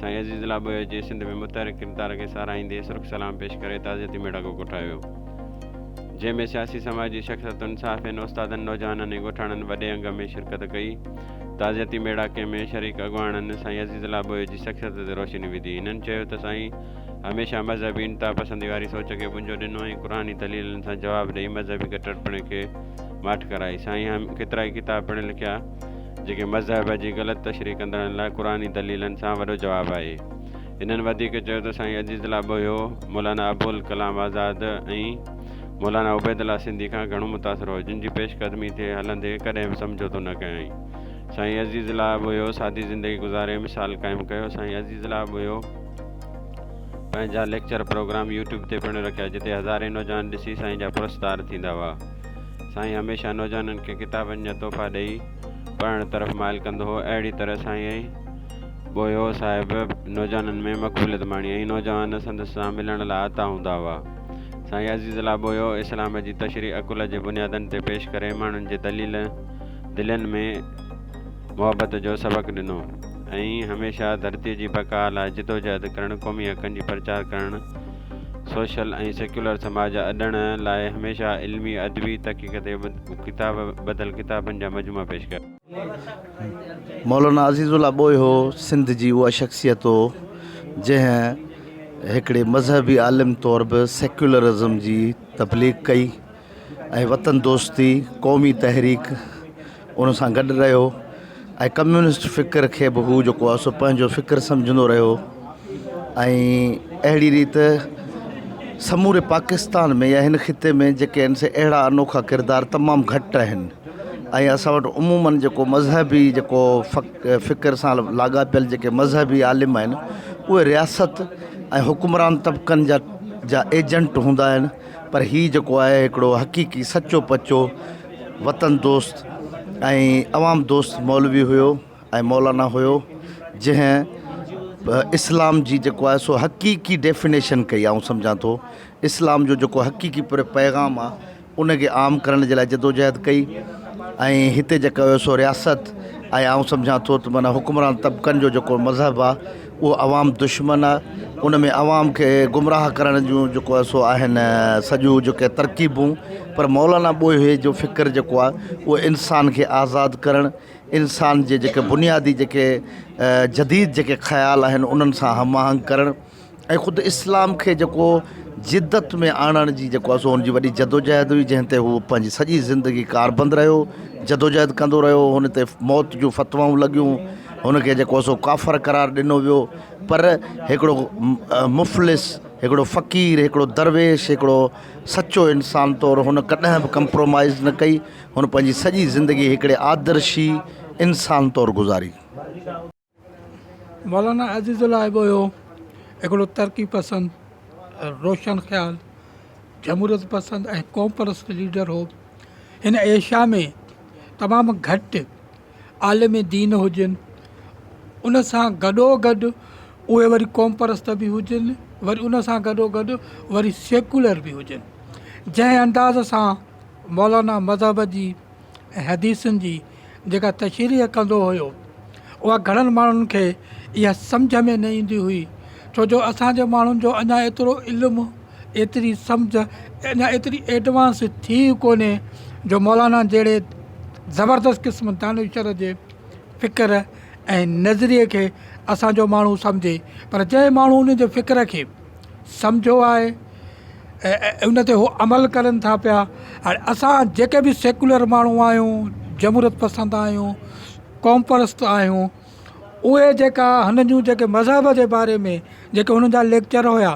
سائين عزيز الله ٻوهيو جي سنڌ ۾ متحرڪ ڪردار کي ساراهيندي سرخ سلام پيش ڪري تعزيتي ميڙاڪو ڪوٺايو ويو جنهن ۾ سياسي سماجي شخصيتن صحافين استادن نوجوانن ۽ ڳوٺاڻن وڏي انگ ۾ شرڪت ڪئي تعزيتي ميڙاڪي ۾ شريڪ اڳواڻن سائين عزيز الله ٻوهيو جي شخصيت تي روشني وڌي هنن چيو ته سائين هميشه مذهبي انتها پسندي واري سوچ کي ٻنجو ڏنو ۽ قرآني دليلن سان جواب ڏئي مذهبي ڪٽرپڻي کي ماٺ ڪرائي سائين ڪيترائي ڪتاب پڻ لکيا جيڪي مذهب جي غلط تشريح ڪندڙن لاء قرآني دليلن سان وڏو جواب آهي. هنن وڌيڪ چيو ته سائين عزيز الله ٻوهيو، مولانا ابوالڪلام آزاد ۽ مولانا عبيدالله سنڌي کان گهڻو متاثر هو، جن جي پيش قدمي تي هلندي ڪڏهن به سمجهوتو نه ڪيائين. سائين عزيز الله ٻوهيو سادي زندگي گذاري مثال قائم ڪيو. سائين عزيز الله ٻوهيو پنهنجا ليڪچر پروگرام يوٽيوب تي پڻ رکيا، جتي هزارين نوجوان ڏسي سائين جا پرستار ٿيندا هئا. سائين هميشه نوجوانن کي ڪتابن جا تحفا ڏئي پڙهڻ طرف مائل ڪندو هو. اهڙي طرح سائين ٻوهيو صاحب نوجوانن ۾ مقبوليت ماڻي ۽ نوجوان سندس سان ملڻ لاء آتا هوندا هئا. سائين عزيز الله ٻوهيو اسلام جي تشريح عقل جي بنيادن تي پيش ڪري ماڻهن جي دلين ۾ محبت جو سبق ڏنو ۽ هميشه ڌرتي جي بقا لاء جدوجهد ڪرڻ قومي حقن جي پرچار ڪرڻ سوشل ۽ سيڪيولر سماج اڏڻ لاء هميشه علمي ادبي تحقيق تي ڪتاب ٻڌل ڪتابن جا مجموعا پيش ڪيا. مولانا عزيز الله ٻوهيو سنڌ جي اها شخصيت هو جنهن هڪڙي مذهبي عالم طور به سيڪيولرزم جي تبليغ ڪئي. ۽ وطن دوستي قومي تحريڪ ان سان گڏ رهيو ۽ ڪميونسٽ فڪر کي به هو جيڪو آهي سو پنهنجو فڪر سمجهندو رهيو ۽ اهڙي ريت سموري پاڪستان ۾ يا هن خطي ۾ جيڪي ان سي اهڙا انوکا ڪردار تمام گهٽ آهن ۽ اسان وٽ عموماً جيڪو مذهبي جيڪو فڪر سان لاڳاپيل جيڪي مذهبي عالم آهن اهي رياست ۽ حڪمران طبقن جا جا ايجنٽ هوندا آهن پر هي جيڪو آهي هڪڙو حقيقي سچو پچو وطن دوست ۽ عوام دوست مولوي هيو ۽ مولانا هيو جنهن اسلام جي جيڪو آهي سو حقيقي ڊيفينيشن ڪئي آئون سمجهان ٿو اسلام جو جيڪو حقيقي پر پيغام آ ان کي عام ڪرڻ جي لاء جدوجهد ڪئي ۽ هتي جيڪو هيو سو رياست ۽ آئون سمجهان ٿو ته معنيٰ حڪمران طبقن جو جيڪو مذهب آ اهو عوام دشمن آ ان ۾ عوام کي گمراهه ڪرڻ جون جيڪو آ سو آهن سڄو جيڪي ترڪيبون پر مولانا ٻوهي جو فڪر جيڪو آ اهو انسان کي آزاد ڪرڻ انسان جي جيڪي بنيادي جيڪي جديد جيڪي خيال آهن انهن سان هم آهنگ ڪرڻ ۽ خود اسلام کي جيڪو جدت ۾ آڻڻ جي جيڪو آ سو ان جي وڏي جدوجهد هئي جنهن تي هو پنهنجي سڄي زندگي ڪاربند رهيو جدوجهد ڪندو رهيو هن تي موت جون فتوائون لڳيون هن کي جيڪو سو ڪافر قرار ڏنو ويو پر هڪڙو مفلس، هڪڙو فقير، هڪڙو درويش، هڪڙو سچو انسان طور هن ڪڏهن به ڪمپرومائيز نه ڪئي، هن پنهنجي سڄي زندگي هڪڙي آدرشي انسان طور گذاري. مولانا عزيز الله هيٻويه هڪڙو ترقي پسند، روشن خيال، جمهوريت پسند ۽ قوم پرست ليڊر هو. هن ايشيا ۾ تمام گهٽ عالم دين هجن ان سان گڏو گڏ اهي وري قوم پرست به هجن وري ان سان گڏو گڏ وري سيڪولر به هجن جنهن انداز سان مولانا مذهب جي ۽ حديثن جي جيڪا تشريح ڪندو هيو اها گهڻن ماڻهن کي اها سمجهه ۾ نه ايندي هئي ڇو جو اسان جي ماڻهن جو اڃا ايترو علم ايتري سمجهه اڃا ايتري ايڊوانس ٿي ئي ڪونهي جو مولانا جهڙي زبردست قسم دانشور جي فڪر ۽ نظريي کي اسان جو ماڻهو سمجهي پر جنهن ماڻهو ان جي فڪر کي سمجهيو آهي ۽ ان تي هو عمل ڪرن ٿا پيا هاڻي اسان جيڪي به سيڪولر ماڻهو آهيون جمهوريت پسند آهيون قوم پرست آهيون اهي جيڪا هن جون جيڪي مذهب جي باري ۾ جيڪي هن جا ليڪچر هيا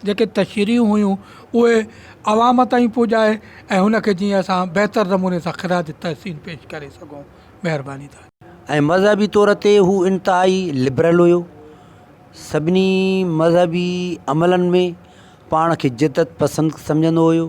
جيڪي تشريحون هيون اهي عوام تائين پڄائي ۽ هن کي جيئن اسان بهتر نموني سان خراج تحسين پيش ڪري سگهون مهرباني ٿا. ۽ مذهبي طور تي هو انتهائي لبرل هيو سڀني مذهبي عملن ۾ پاڻ کي جدت پسند سمجهندو هيو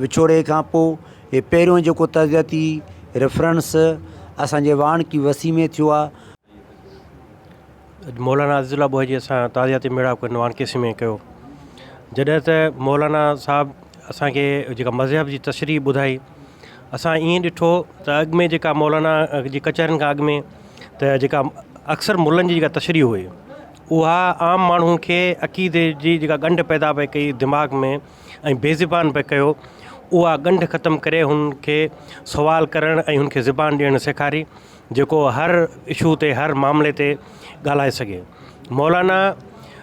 وڇوڙي کان پوء هي پهريون جيڪو تربيتي ريفرنس اسان جي واڻ ڪي وسيع ۾ ٿيو آهي. مولانا عزيز الله ٻوهجي اسان جو تعزيتي ميڙاڪ هن واڻ ڪي وسيع ۾ ڪيو. جڏهن ته مولانا صاحب اسان کي جيڪا مذهب جي تشريح ٻڌائي اسان ائين ڏٺو ته اڳ ۾ جيڪا مولانا جي ڪچهرين کان اڳ ۾ ته جيڪا اڪثر ملن جي جيڪا تشريح هئي اها عام ماڻهو کي عقيدي جي جيڪا ڳنڍ پيدا پئي ڪئي دماغ ۾ ۽ بي زبان پئي ڪيو، اها ڳنڍ ختم ڪري هن کي سوال ڪرڻ ۽ هن کي زبان ڏيڻ سيکاري جيڪو هر اشو تي هر معاملي تي ڳالهائي سگهي. مولانا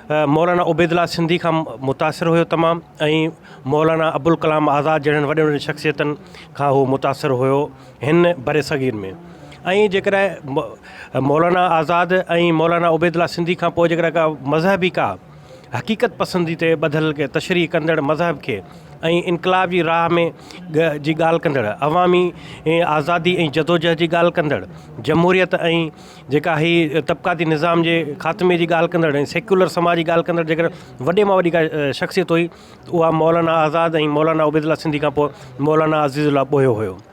مولانا عبيد الله سنڌي کان متاثر هيو تمام ۽ مولانا ابوالڪلام آزاد جهڙن وڏين وڏين شخصيتن کان هو متاثر هيو هن برصغير ۾ ۽ جيڪڏهن مولانا آزاد ۽ مولانا عبيد الله سنڌي کان پوء جيڪڏهن ڪا مذهبي ڪا حقيقت پسندي تي ٻڌل تشريح ڪندڙ مذهب کي ۽ انقلاب جي راهه ۾ جي ڳالهه ڪندڙ، عوامي آزادي ۽ جدوجهد جي ڳالهه ڪندڙ، جمهوريت ۽ جيڪا هي طبقاتي نظام جي خاتمي جي ڳالهه ڪندڙ ۽ سيڪيولر سماج جي ڳالهه ڪندڙ جيڪڏهن وڏي مان وڏي ڪا شخصيت هئي ته اها مولانا آزاد ۽ مولانا عبيدالله سنڌي کانپوء مولانا عزيزالله ٻوهيو هيو.